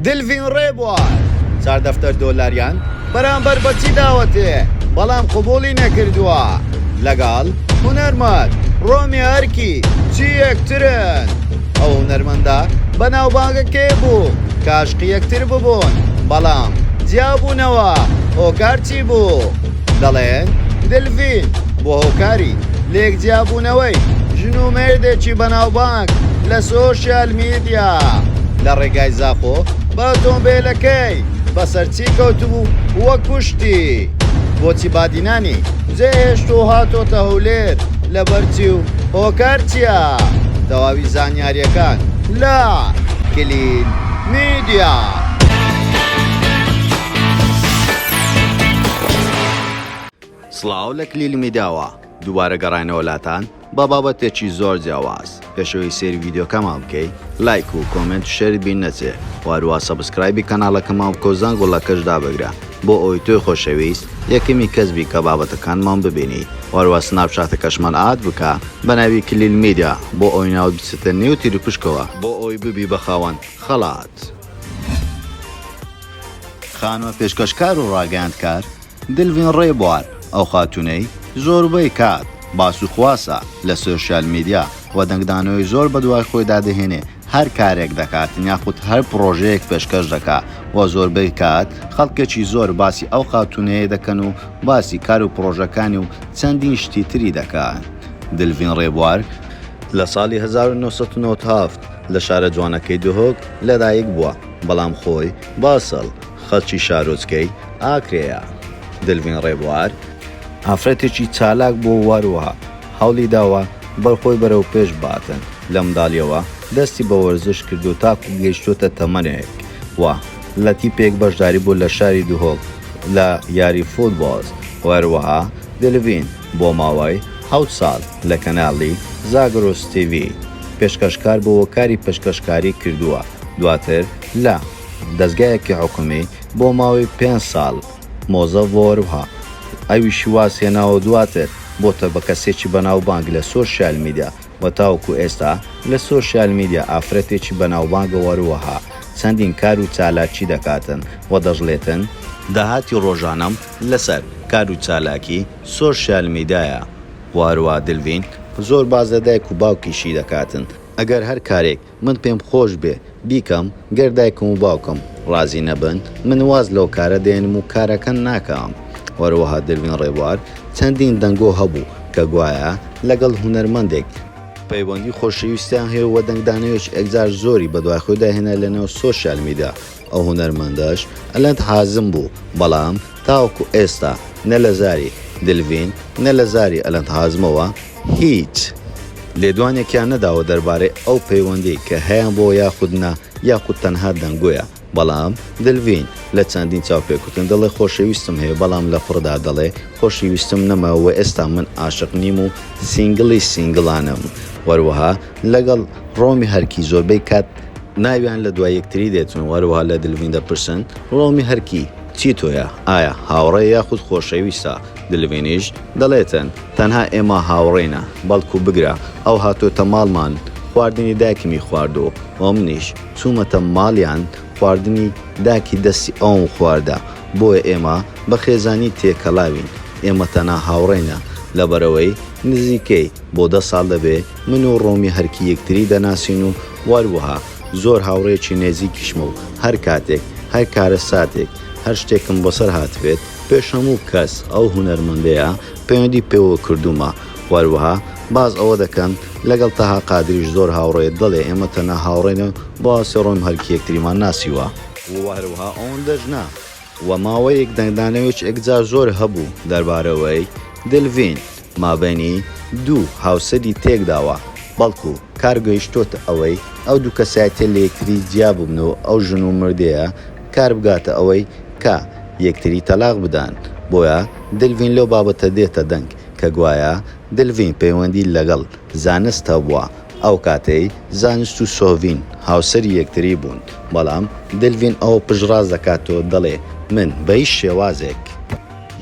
دلڤین ڕێبوار چار دەفتەر دۆلاریان بەرامبەر بە چی داوەتێ بەڵام قبوڵی نەکردووە لەگەڵ هونەرمەند ڕۆمی ئەرکی چی یەکترن ئەو هونەرمەندە بەناوبانگە کێ بوو کاشقی یەکتر ببوون بەڵام جیابوونەوە هۆکار چی بوو؟ دەڵێن دلڤین بۆ هۆکاری لێک جیابوونەوەی ژن و مێردێکی بەناوبانگ لە سۆشیال میدیا لە ڕێگای زاخۆ بە ئۆتۆمبێلەکەی بەسەر چی کەوتبوو وە کوشتی بۆچی بادینانی جێهێشت و هاتۆتە هەولێر لەبەرچی و هۆکار چییە تەواوی زانیاریەکان لە کلین میدیا. سڵاو لە کلیل میداوە دووبارە گەڕاینەوە لاتان بە بابەتێکی زۆر جیاواز پێشەوەی سێری ڤیددیوکەمان بکەی لایک و کۆمنت شەری بین نەچێ واروا سەبسکرایبی کەناڵەکەمان بکە و زەنگ و لەکەش دابگرە بۆ ئەوی تۆی خۆشەویست یەکەمی کەس بی کە بابەتەکانمان ببینی واروا سناپ چاتەکەشمان ئاد بکە بە ناوی کلیل میدیا بۆ ئەوی ناوت بچێتە نێو تیروپشکەوە بۆ ئەوی ببی بە خاوەن خەڵات. خانمە پێشکەشکار و ڕاگەیاندکار، دلڤین ڕێبوار، ئەو خاتوونەی زۆربەی کات باس و خواسە لە سۆشیال میدیا و دەنگدانەوەی زۆر بەدوای خۆیدا دەهێنێ هەر کارێک دەکات یاخود هەر پڕۆژەیەک پێشکەش دەکا و زۆربەی کات خەڵکێکی زۆر باسی ئەو خاتوونەیە دەکەن و باسی کار و پڕۆژەکانی و چەندین شتی تری دەکات دلڤین ڕێبوار لە ساڵی هەزار و نۆ سەد و نەوەد و هەفت لە شارە جوانەکەی دهۆک لەدایکبووە، بەڵام خۆی باسل خەڵکی شارۆچکەی ئاکرێیە. دلڤین ڕێبوار، ئافرەتێکی چالاک بووە و هەروەها هەوڵی داوە بەرخۆی بەرەو پێش باتن، لە منداڵییەوە دەستی بە وەرزش کردووە تاکوو گەیشتووەتە تەمەنێک و لە تیپێک بەشداری بوو لە شاری دهۆک لە یاری فوتبۆڵ و هەروەها دلڤین بۆ ماوەی حەوت ساڵ لە کەناڵی زاگرۆس تیڤی پێشکەشکار بووە و کاری پێشکەشکاری کردووە. دواتر لە، دەزگایەکی حکومی، بۆ ماوەی پێنج ساڵ مۆزەف بووە وەروها ئەویشی واز هێناوەو دواتر بۆتە بە کەسێکی بەناوبانگ لە سۆشیال میدیا و تاوەکو ئێستا لە سۆشیال میدیا ئافرەتێکی بەناوبانگە وەروەها چەندین کارو چالاکی دەکاتن و دەشڵێتن داهاتی ڕۆژانەم لەسەر کارو چالاکی سۆشیال میدایە و هەروەها دلڤین زۆر باس لە دایک و باوکیشی دەکاتن. ئەگەر هەر کارێک من پێم خۆش بێ بیکەم گەر دایکم و باوکم ڕازی نەبن من واز لەو کارە دێنم و کارەکە ناکەم هەروەها دەروین ڕێبوار چەندین دەنگۆ هەبوو کە گوایە لەگەڵ هونەرمەندێک پەیوەندی خۆشەویستیان هەیە و دەنگدانەوێکی ئەکجار زۆری بەدوای خۆیدا هێنا لەناو سۆشیال میدیا. ئەو هونەرمەندەش ئەلەند حازم بوو بەڵام تاوەکو ئێستا نە لە زاری دلڤین نە لە زاری ئەلەند حازمەوە هیچ لێدوانێکیان نەداوە دەربارەی ئەو پەیوەندیەی کە هەیان بۆ یاخود نا یاخود تەنها دەنگۆیە بەڵام دلڤین لە چەندین چاوپێکوتن دەڵێ خۆشەویستم هەیە بەڵام لە فڕدا دەڵێ خۆشیویستم نەما وە ئێستا من عاشق نیم و سینگڵی سینگڵانم وەروەها لەگەڵ ڕۆمی هەرکی زۆربەی کات ناویان لە دوای یەکتری دێتن و هەروەها لە دلڤین دەپرسن، ڕۆمی هەرکی چی تۆیە؟ ئایا هاوڕێ یاخود خۆشەویستە؟ دلڤینیش دەڵێتن، تەنها ئێمە هاوڕێینە، بەڵکو بگرە ئەو هاتۆتە ماڵمان خواردنی دایکمی خواردوو و منیش چوومەتە ماڵیان خواردنی داکی دەستی ئەوم خواردە، بۆیە ئێمە بە خێزانی تێکەڵاوین، ئێمە تەنها هاوڕێینە لەبەرئەوەی نزیکەی. بۆ دە ساڵ دەبێ من و ڕۆمی هەرکی یەکتری دەناسین و وەروەها زۆر هاوڕێیەکی نێزیکیشمە و هەر کاتێک، هەر کارەساتێک، هەر شتێکم بەسەر هاتبێت، پێش هەموو کەس ئەو هونەرمەندەیە پەیوەندی پێوە کردوومە. وەروەها باس ئەوە دەکەن لەگەڵ تەها قادریش زۆر هاوڕێیە، دەڵێ ئێمە تەنها هاوڕێ نەبن، بۆ ئاستی ڕۆمی هەرکی یەکتریمان ناسیوە. و هەروەها ئەوەندەش نا، و ماوەیەک دەنگدانەوێچ ئێکجار زۆر هەبوو دەربارەوەی، دلڤین، مابەینی دوو هاوسەری تێکداوە، بەڵکو کار گەیشتۆتە ئەوەی ئەو دوو کەسایەتیە لە یەکتری جیا ببن و ئەو ژن و مردەیە کار بگاتە ئەوەی کە یەکتری تەلاق بدەن، بۆیە دلڤین لەو بابەتە دێتە دەنگ کە گوایە دلڤین پەیوەندی لەگەڵ زانست هەبووە، ئەو کاتەی زانست و سۆڤین هاوسەری یەکتری بوون، بەڵام دلڤین ئەوە پشتڕاست دەکات و دەڵێ، من بە هیچ شێوازێک،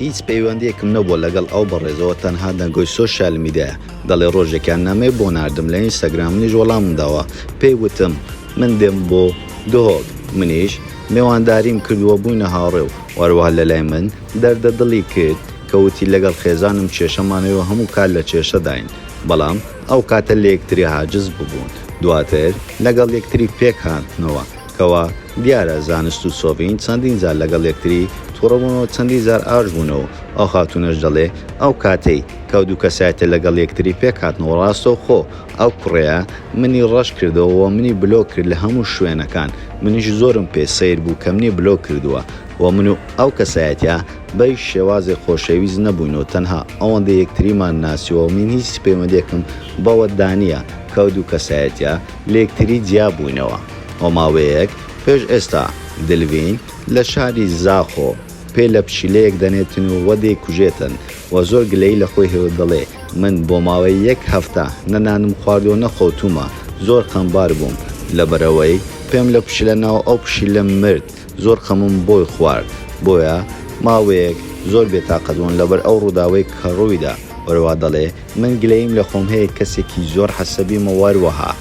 هیچ پەیوەندییەکم نەبووە لەگەڵ ئەو بەڕێزەوە تەنها دەنگۆی سۆشیال میدایە، دەڵێ، ڕۆژێکیان نامەی بۆ ناردم لە ئینستاگرام منیش وەڵامم داوە، پێی وتم من دێم بۆ دهۆک، منیش مێوانداریم کرد و بووینە هاوڕێ و هەروەها لەلای من دەردە دڵی کرد کە وتی لەگەڵ خێزانم کێشەمانەوەی و هەموو کات لە کێشەداین، بەڵام ئەو کاتە لە یەکتری عاجز ببوون، دواتر لەگەڵ یەکتری پێک هاتنەوە، کەوا دیارە زانست و سۆڤین چەندین جار لەگەڵ یەکتری توڕە بوون و چەندین جار ئاش بوونەوە، ئەو خاتوونەش دەڵێ ئەو کاتەی کەو دوو کەسایەتیە لەگەڵ یەکتری پێک هاتنەوە ڕاستەو خۆ ئەو کوڕەیە منی ڕەش کردەوە و منی بلۆک کرد لە هەموو شوێنەکان، منیش زۆرم پێ سەیر بوو کە منی بلۆک کردووە و من و ئەو کەسایەتیە بە هیچ شێوازێک خۆشەویست نەبووین و تەنها ئەوەندە یەکتریمان ناسیوە و من هیچ پەیوەندێکم بەوە دانیە کە ئەو دوو کەسایەتیە لە یەکتری جیا بووینەوە و ماوەیەک پێش ئێستا دلڤین لە شاری زاخۆ پێ لە پشیلەیەک دەنێتن و وە دەیکوژێتن و زۆر گلەیی لە خۆی هەیە و دەڵێ من بۆ ماوەی یەک هەفتە نە نانم خواردووە نە خەوتوومە زۆر خەمبار بووم لەبەرئەوەی پێم لە پشیلە ناو ئەو پشیلە مرد. زۆر خەمم بۆی خوارد بۆیە ماوەیەک زۆر بێتاقەت بووم لەبەر ئەو ڕووداوەی کە ڕوویدا وەرەوە دەڵێ من گلەییم لە خۆم هەیە کەسێکی زۆر حەسەبیم و وەروەها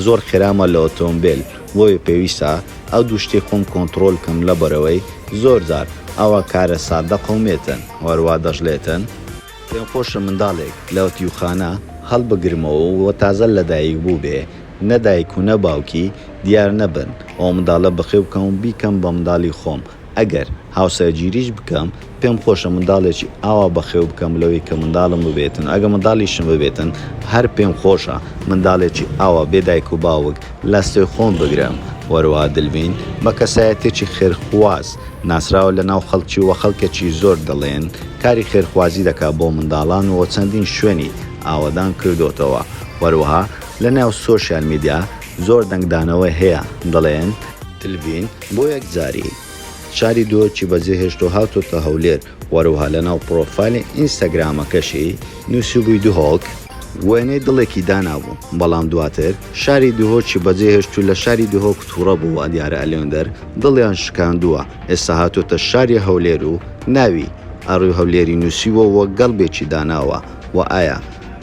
زۆر خێرامە لە ئۆتۆمبێل بۆیە پێویستە ئەو دوو شتەی خۆم کۆنتڕۆل کەم لەبەرەوەی زۆر جار ئەوە کارە سادە قەومێتن وەروا دەشڵێتن پێم خۆشە منداڵێک لە ئەتیوخانە هەڵبگرمەوە و تازە لەدایک بووبێ، نە دایک و نە باوکی دیار نەبن، ئەو منداڵە بەخێو بکەم و بیکەم بە منداڵی خۆم، ئەگەر هاوسەرگیریش بکەم، پێم خۆشە منداڵێکی ئاوا بەخێو بکەم لەوەی کە منداڵم ببێتن و ئەگەر منداڵیشم ببێتن، هەر پێم خۆشە منداڵێکی ئاوا بێ دایک و باوک لەستۆی خۆم بگرم. وەرەوە دلڤین بە کەسایەتییەکی خێرخواز ناسراوە لەناو خەڵکی و خەڵکێکی زۆر دەڵێن، کاری خێرخوازی دەکات بۆ منداڵان و چەندین شوێنی ئاوەدان کردۆتەوە وەروەها لە ناو سۆشیال میدیا زۆر دەنگدانەوەی هەیە دەڵێن، تلڤین بۆ یەکجاری شاری دۆکی بەجێ هێشتو هاتۆتە هەولێر وەروەها لە ناو پرۆفایلی ئینستاگرامەکەشی نوسیبوی دهۆک، وێنەی دڵێکی دانابو بەڵام دواتر شاری دهۆکی بەجێ هێشتو لە شاری دهۆک توڕە بو وادیارە ئەلێندەر دڵیان شکاندوە ئێستا هاتۆتە شاری هەولێر و ناوی، ئاڕی هەولێری، نووسیوە و گەڵبێکی داناوە، وە ئایا،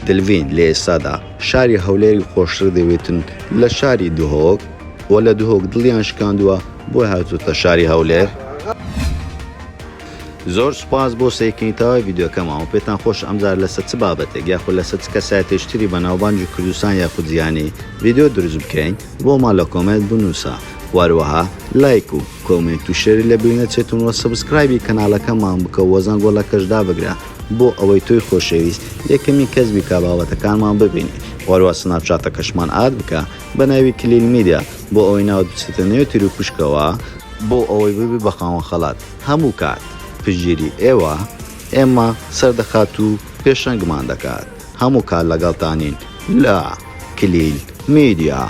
دلڤین، لە ئێستادا شاری هەولێری خۆشتر دەوێتن لە شاری دهۆک؟ وە لە دهۆک دڵیان شکاندووە بۆیە هاتۆتە شاری هەولێر؟ زۆر سوپاس بۆ سەیرکردنی تەواوی ڤیدیۆکەمان وە پێتان خۆشە ئەمجارە لەسەر چ بابەتێک یاخود لەسەر چ کەسایەتێکی تری بەناوبانگی کوردستان یاخود جیهانی ڤیدیۆ دروست بکەین بۆمان لە کۆمێنت بنووسە وە هەروەها لایک و کۆمێنت و شێری لە بیر نەچێتون وە سەبسکرایبی کەنالەکەمان بکە وە زەنگۆڵەکەش دابگرە بۆ ئەوەی تۆی خۆشەویست یەکەمین کەس بی کا بابەتەکانمان ببینی وەروە سناپچاتەکەشمان ئاد بکە بە ناوی کلیل میدیا بۆ ئەوەی ناوت بچێتە نێو تیروپشکەوە بۆ ئەوەی ببی بە خاوەن خەڵات هەموو کات پشتگیری ئێوە ئێمە سەردەخات و پێشەنگمان دەکات هەموو کات لەگەڵتانین لە. کلیل میدیا.